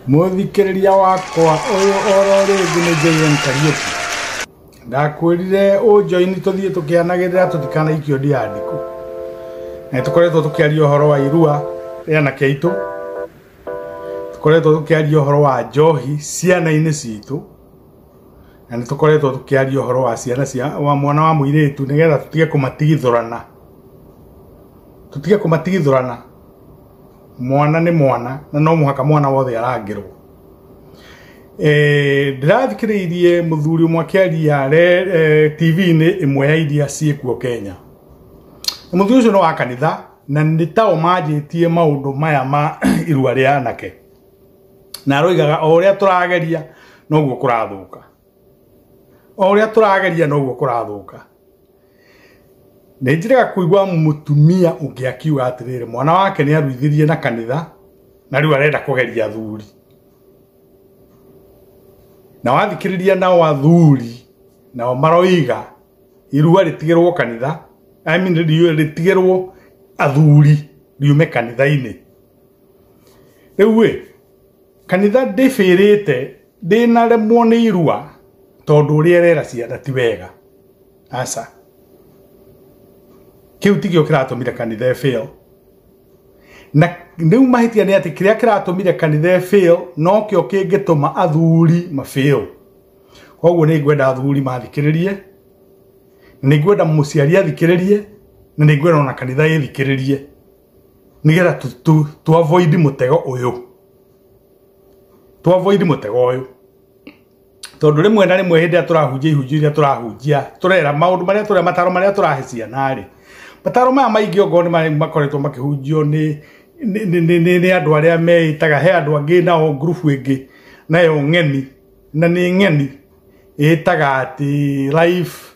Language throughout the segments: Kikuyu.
mũthikĩrĩria wakwa ũyũ oro rĩngĩ nĩ JM Kariuki ndakwĩrire ũnjoini tũthiĩ tũkĩanagĩrĩra tũtikanaikio ndiandĩkũ na tũkoretwo tũkĩaria ũhoro wa irua rĩa anake aitũ tũkoretwo tũkĩaria ũhoro wa njohi ciana-inĩ citũ na nĩ tũkoretwo tũkĩaria ũhoro wa ciana cia wa mwana wa mũirĩtu nĩgetha tũtige kũmatigithũrana tũtige kũmatigithũrana mwana nĩ mwana na no mũhaka mwana wothe arangĩrwo Eh, ndĩrathikĩrĩirie mũthuri ũmwe akĩaria re- eh, tv-inĩ ĩmwe ya iria ciĩkuo kenya Na mũthuri ũcio nĩ wa kanitha na nĩ ta ũmanjĩtie maũndũ maya ma irua rĩa anake na aroigaga o ũrĩa tũrageria noguo kũrathũka o ũrĩa tũrageria noguo kũrathũka nĩ njĩrega kũigua mũtumia ũngĩ akiuga atĩrĩrĩ mwana wake nĩ aruithirie na kanitha na rĩu arenda kũgeria athuri na wathikĩrĩria nao athuri nao maroiga irua rĩtigĩrwo kanitha I mean, riu- rĩtigĩrwo athuri riume kanitha-inĩ rĩu ĩ kanitha ndĩbĩrĩte ndĩnaremwo nĩ irua tondũ ũrĩa rera ciana ti wega aca kĩu tikĩo kĩratũmire kanitha ĩbĩo na rĩu mahĩtia nĩ atĩ kĩrĩa kĩratũmire kanitha ĩbĩo nokĩo kĩngĩtũma athuri mabĩo koguo nĩ ngwenda athuri mathikĩrĩrie nĩ ngwenda mũciari athikĩrĩrie na nĩ ngwenda ona kanitha ĩthikĩrĩrie nigetha tu, tu, tu avoid mutego uyu tu avoid mutego uyu tondu rimwe na rimwe hindi turahunjia ihunjio iria turahunjia turera maundu maria turia mataro maria turahe ciana ri mataro maya maingi ongo ni mari makoretwo makihunjio ni ni ni- ni ni- ni andu aria meitaga he andu angi na o group ingi nayo ng'eni na ni ng'eni itaga ati life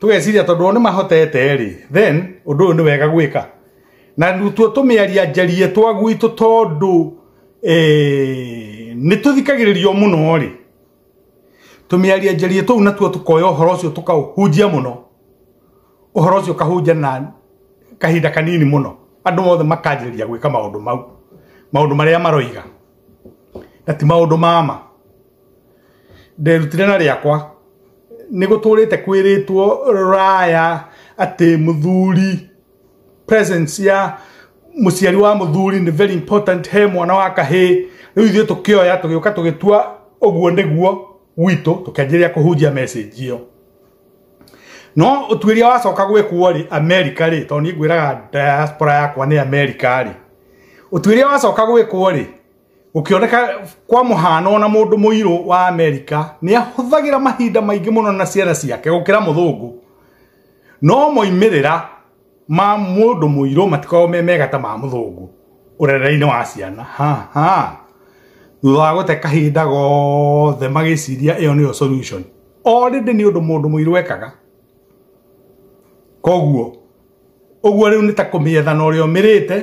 tũgeciria tondũ o nĩ mahotete rĩ then ũndũ ũyũ nĩ wega gwĩka na tuo tũmĩaria njarie twa gwitũ tondũ eh, nĩ tũthikagĩrĩrio mũno rĩ tũmĩaria njarie tũu natuo tũkoya ũhoro ũcio tũkaũhunjia mũno ũhoro ũcio ũkahunja na kahinda kanini mũno andũ mothe makanjĩrĩria gwĩka maũndũ mau maũndũ marĩa maroiga na ti maũndũ mama nderutire na rĩakwa nĩ gũtũrĩte kwĩrĩtwo raya atĩ mũthuri presence ya mũciari wa mũthuri nĩ very important he mwana wa kahĩ rĩu ithuĩ tũkĩoya tũgĩũka tũgĩtua ũguo nĩguo gwitũ tũkĩanjĩrĩria kũhunjia message ĩyo no ũtuĩria wacoka gwĩkwo rĩ amerika rĩ tondũ niĩ ngwĩraga diaspora yakwa nĩ amerika rĩ ũtuĩria wacoka gwĩkwo rĩ gũkĩoneka kwa mũhano ona mũndũ mũirũ wa amerika nĩ ahũthagĩra mahinda maingĩ mũno na ciana ciake gũkĩra mũthũngũ no moimĩrĩra ma mũndũ mũirũ matikoragwo me mega ta ma mũthũngũ ũrereinĩ wa ciana ha ha thutha wa gũte kahinda gothe magĩciria ĩyo nĩyo solution already nĩ ũndũ mũndũ mũirũ ekaga koguo ũguo rĩu nĩ ta kũmĩetha na ũrĩa ũmĩrĩte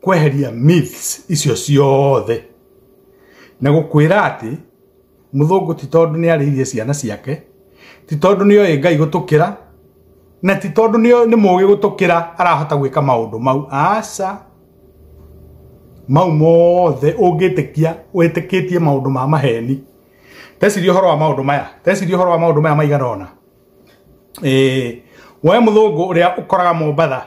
kweheria myths icio ciothe na gũkwĩra atĩ mũthũngũ ti tondũ nĩ arĩirie ciana ciake ti tondũ nĩ oĩ ngai gũtũkĩra na ti tondũ nĩ oĩ- nĩ mũgĩ gũtũkĩra arahota gwĩka maũndũ mau aca mau mothe ũngĩtĩkia wĩtĩkĩtie maũndũ ma maheni teciria ũhoro wa maũndũ maya teciria ũhoro wa maũndũ maya maigana ũna Eh, we mũthũngũ ũrĩa ũkoraga mombatha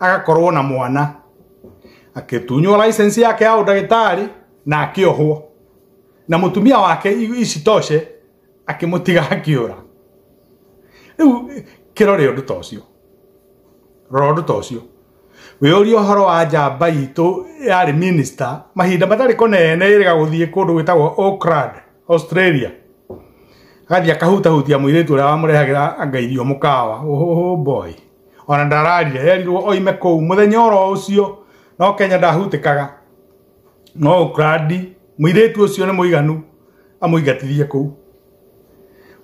agakorwo na mwana akĩtunywo license yake ya ũndagĩtarĩ na akĩohwo na mũtumia wake i- isitoshe akĩmũtiga akĩũra rĩu kĩrore ũndũ ta ũcio rora ũndũ ta ũcio wĩyũria ũhoro wa njamba itũ yarĩ minista mahinda matarĩ kũnene ĩrĩga gũthiĩ kũndũ gwĩtagwo Auckland Australia agathiĩ akahutahutia mũirĩtu ũrĩa wamũrehagĩra anga irio mũkawa oh boy ona ndararia yerirwo oime kũu mũthenya oro ũcio no kenya ndahutĩkaga no ũkrandi mũirĩtu ũcio nĩ mũiganu amũingatithie kũu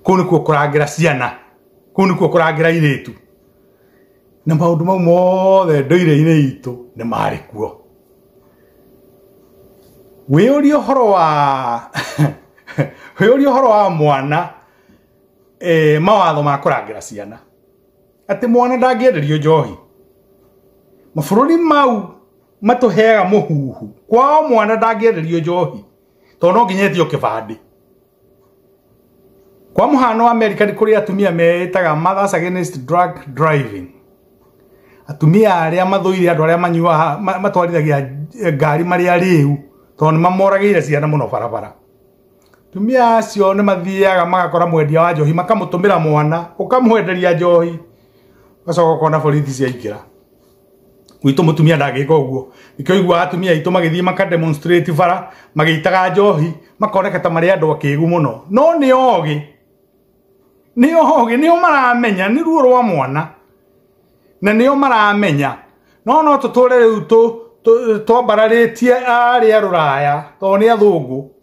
kũu nĩkuo kũrangĩra ciana kũu nĩkuo kũrangĩra irĩtu na maũndũ mau mothe ndũire-inĩ itũ nĩ marĩ kuo wĩyũria ũhoro wa wĩyũria ũhoro wa mwana eh, mawatho ma kũrangĩra ciana atĩ mwana ndangĩenderio njohi mabũrũri mau matũheaga mũhuhu kwao mwana ndangĩenderio njohi tondũ no nginya etio kĩbandĩ kwa mũhano wa amerika nĩ kũrĩ atumia meĩtaga mothers against drug driving atumia arĩa mathũire andũ arĩa manyuaga ma- matwarithagia ngari marĩa rĩu tondũ nĩ mamoragĩire ciana mũno barabara tumia acio nĩ mathiaga magakora mwendia wa njohi makamũtũmĩra mwana ũkamwenderia njohi ũgacoka ũkona borithi ciaingĩra gwitũ mũtumia ndangĩka ũguo nĩkĩo igua atumia aitũ magĩthiĩ makademonstrate bara magĩitaga njohi makoneka ta marĩ andũ akĩgu mũno no nĩ ogĩ nĩ ogĩ nĩo maramenya nĩ ruo rwa mwana na nĩo maramenya no no tũtũre rĩu tũ- tũ- twambararĩtie arĩa rũraya tondũ nĩ athũngũ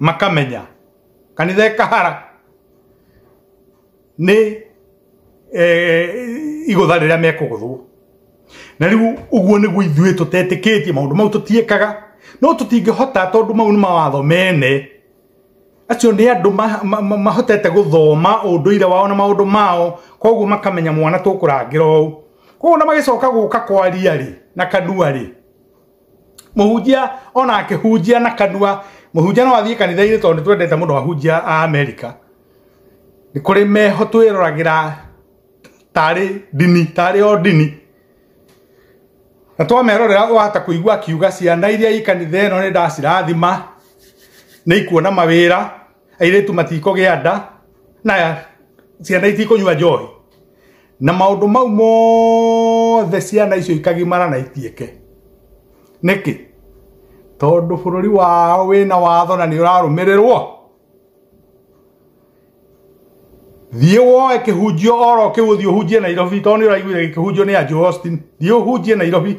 makamenya kanitha ĩkahara nĩ eh, igũtha rĩrĩa mekũgũthwo na rĩu ũguo nĩguo ithuĩ tũtetĩkĩtie maũndũ mau tũtiĩkaga no tũtingĩhota tondũ mau nĩ mawatho mene acio nĩ andũ ma- ma- ma- mahotete gũthoma ũndũire wao na maũndũ mao koguo makamenya mwana tũkũrangĩra ũũ koguo na magĩcoka gũka kwaria rĩ na kanua rĩ mũhunjia ona akĩhunjia na kanua mũhunjia no athiĩ kanitha-inĩ tondũ nĩ twendete mũno ahunjia a amerika nĩ kũrĩ meho twĩroragĩra tarĩ ndini tarĩ o ndini na twamerorera wahota kũigua akiuga ciana iria i kanitha ĩno nĩ ndacirathima nĩ ikuona mawĩra airĩtu matikũgĩa nda na ciana itikũnyua njohi na maũndũ mau mothe ciana icio ikagimara na itiĩke nĩkĩ tondũ bũrũri wao wĩna watho na nĩ ũrarũmĩrĩrwo thiĩ woe kĩhunjio oro kĩu ũthiĩ ũhunjie nairobi tondũ nĩ ũraiguire kĩhunjio nĩ anjũ austin thiĩ ũhunjie nairobi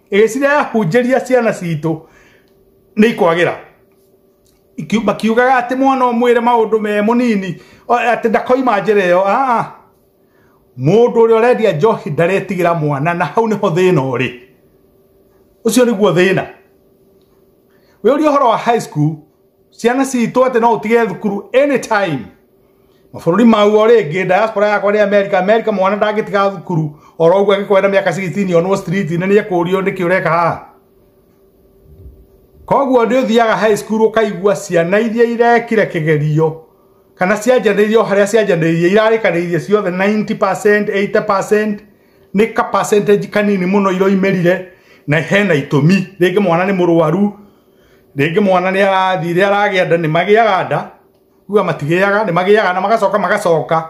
ĩgĩcira yahunjĩria ciana citũ nĩ ikwagĩra Iki- makiugaga atĩ mwana ũmwĩre maũndũ me mũnini o- atĩ ndakoima njĩra ĩyo aa mũndũ ũrĩa ũrendia njohi ndaretigĩra mwana na hau nĩho thĩna ũrĩ ũcio nĩguo thĩna wĩ ũria ũhoro wa high school ciana citũ atĩ no ũtige thukuru anytime mabũrũri maguo rĩngĩ diaspora yakwa nĩ america america mwana ndangĩtiga thukuru oro ũguo agĩkwenda mĩaka 16 onwo street nĩ nĩ ekũrio nĩkĩ ũreka haha koguo nĩ ũthiaga high school ũkaigua ciana iria irekire kĩgerio kana cianjanĩirio harĩa cianjanĩirie irarĩkanĩirie ciothe 90% 80% nĩ ka percentage kanini mũno iroimĩrire na hena itũmi rĩngĩ mwana nĩ mũrwaru rĩngĩ mwana nĩ arathire aragĩa nda nĩ magĩaga nda uga matigĩaga nĩ magĩaga na magacoka magacoka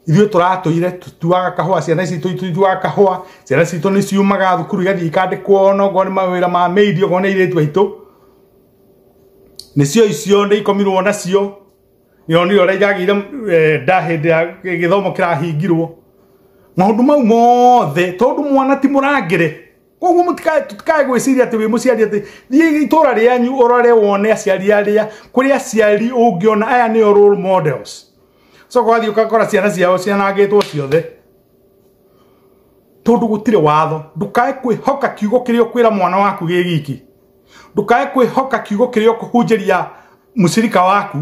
ithuĩ tũratũire tuaga kahũa ciana ici tuaga kahũa ciana citũ nĩ ciumaga thukuru igathiĩ ikandĩkwo ona okorwo nĩ mawĩra ma mĩiri okorwo nĩ airĩtu aitũ nĩcio icio nĩ ikomirwo nacio nĩronire ũrĩa iragĩire nda hĩndĩ ya gĩthomo kĩrahingirwo maũndũ mau mothe tondũ mwana ti mũrangĩre koguo mũtikae tũtikae gwĩciria atĩ wĩ mũciari atĩ thiĩ itũra rĩanyu ũrore wone aciari arĩa kũrĩ aciari ũngĩona aya nĩo role models coka wathiĩ ũkakora ciana ciao cianangĩtwo ciothe tondũ gũtirĩ watho ndũkae kwĩhoka kiugo kĩrĩa ũkwĩra mwana waku gĩ giki ndũkae kwĩhoka kiugo kĩrĩa ũkũhunjĩria mũcirika waku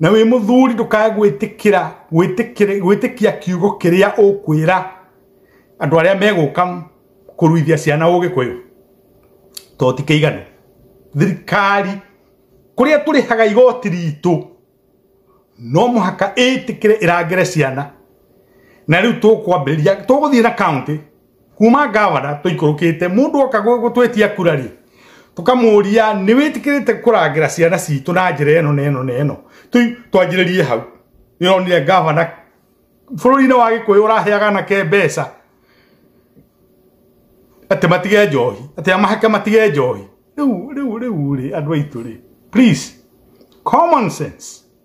na wĩ mũthuri ndũkae gwĩtĩkĩra gwĩtĩkĩra- gwĩtĩkia kiugo kĩrĩa ũkwĩra andũ arĩa megũka kũruithia ciana ũgĩkũyũ to ti kĩiganu thirikari kũrĩa tũrĩhaga igoti ritũ no mũhaka ĩtĩkĩre ĩrangĩre ciana na rĩu tũkwambĩrĩria tũgũthiĩ na kaunti kuma ngavana tũikũrũkĩte mũndũ oka gũ- gũtwetia kura rĩ tũkamũria nĩ wĩtĩkĩrĩte kũrangĩra ciana citũ na njĩra ĩno na ĩno na ĩno Tũ- twanjĩrĩrie hau nĩronire ngavana bũrũri-inĩ wa gĩkũyũ ũraheaga anake mbeca atĩ matige njohi atĩ amahake matige njohi rĩu rĩu rĩu rĩ andũ aitũ rĩ please common sense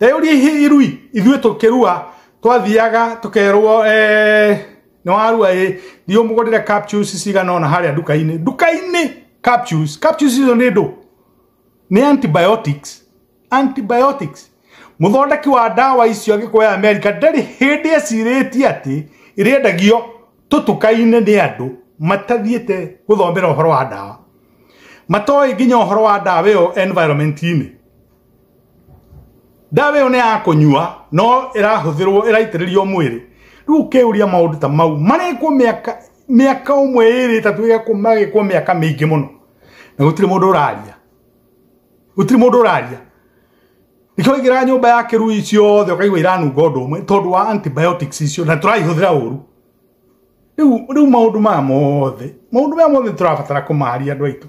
teyũria irui ithuĩ tũkĩrua twathiaga tũkerwo eh, nĩ warua ĩ thiĩ ũmũgũrĩre capsules cigana ona harĩa nduka-inĩ nduka-inĩ capsules capsules icio nĩ ndũ nĩ antibiotics antibiotics muthondeki wa ndawa icio agĩkũya america ndarĩ hĩndĩ ecirĩtie atĩ ĩrĩendagio tũtuka-inĩ nĩ andũ matathiĩte gũthomera ũhoro wa ndawa matoĩ nginya ũhoro wa ndawa ĩyo environment-inĩ ndawa ĩyo nĩ ya kũnyua no ĩrahũthĩrwo ĩraitĩrĩrio mwĩrĩ rĩu ũkĩũria maũndũ ta mau marĩkwo mĩaka mĩaka ũmwe ĩrĩ ĩtatũ ĩgakwo magĩkwo mĩaka mĩingĩ mũno na gũtirĩ mũndũ ũraria gũtirĩ mũndũ ũraria nĩkĩo ũingĩraga nyũmba ya kĩrui ciothe ũkaigua iranunga ũndũ ũmwe tondũ wa antibiotics icio na tũraihũthĩra ũru rĩu rĩu maũndũ maya mothe maũndũ maya mothe tũrabatara kũmaria andũ aitũ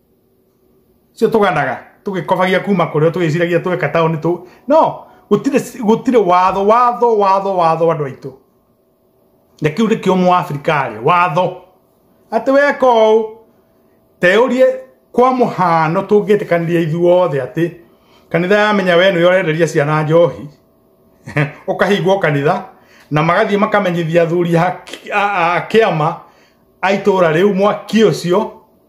cio tuganaga tugikobagia kuma kuria tugiciragia tweka taoni tu no gutire gutire watho watho watho watho andu aitu na kiu ni kio mu Afrika ri watho ati weka u teurie kwa muhano tungitikaniria ithuothe ati kanitha yamenya we nä orenderia ciana njohi ukahingwo kanitha na magathiä makamenyithia athuri a kä ama a itå ra rä u mwaki å cio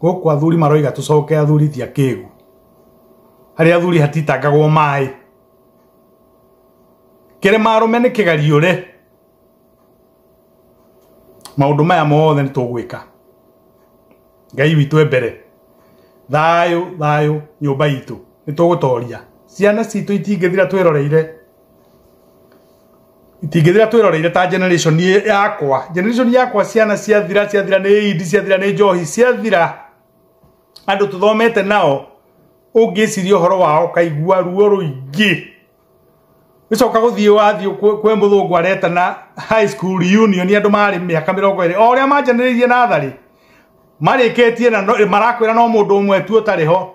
gũkũ athuri maroiga tũcoke athuri ti akĩgu harĩa athuri hatitangagwo maĩ kĩrĩma arũme nĩ kĩgariũre maũndũ maya mothe nĩ tũgwĩka ngai witũ mbere thayũ thayũ nyũmba itũ nĩ tũgũtoria ciana citũ itingĩthira twĩroreire itingĩthira twĩroreire ta generation yakwa generation yakwa ciana ciathira ciathira nĩ idi ciathira nĩ njohi ciathira andũ tũthomete nao ũngĩciria ũhoro wao kaigua ruo rũingĩ gĩcoka gũthiĩ wathiĩ kwĩ kwĩ mũthũngũ aretana high school reunion andũ marĩ mĩaka mĩrongo ĩrĩ o ũrĩa manjanĩrĩirie natharĩ marĩkĩtie na no- marakwĩra no mũndũ ũmwe tu ũtarĩ ho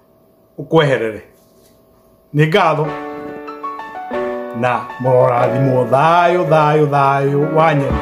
ũkweherere nĩ ngatho na mũrorathimwo thayũ thayũ thayũ wa nyene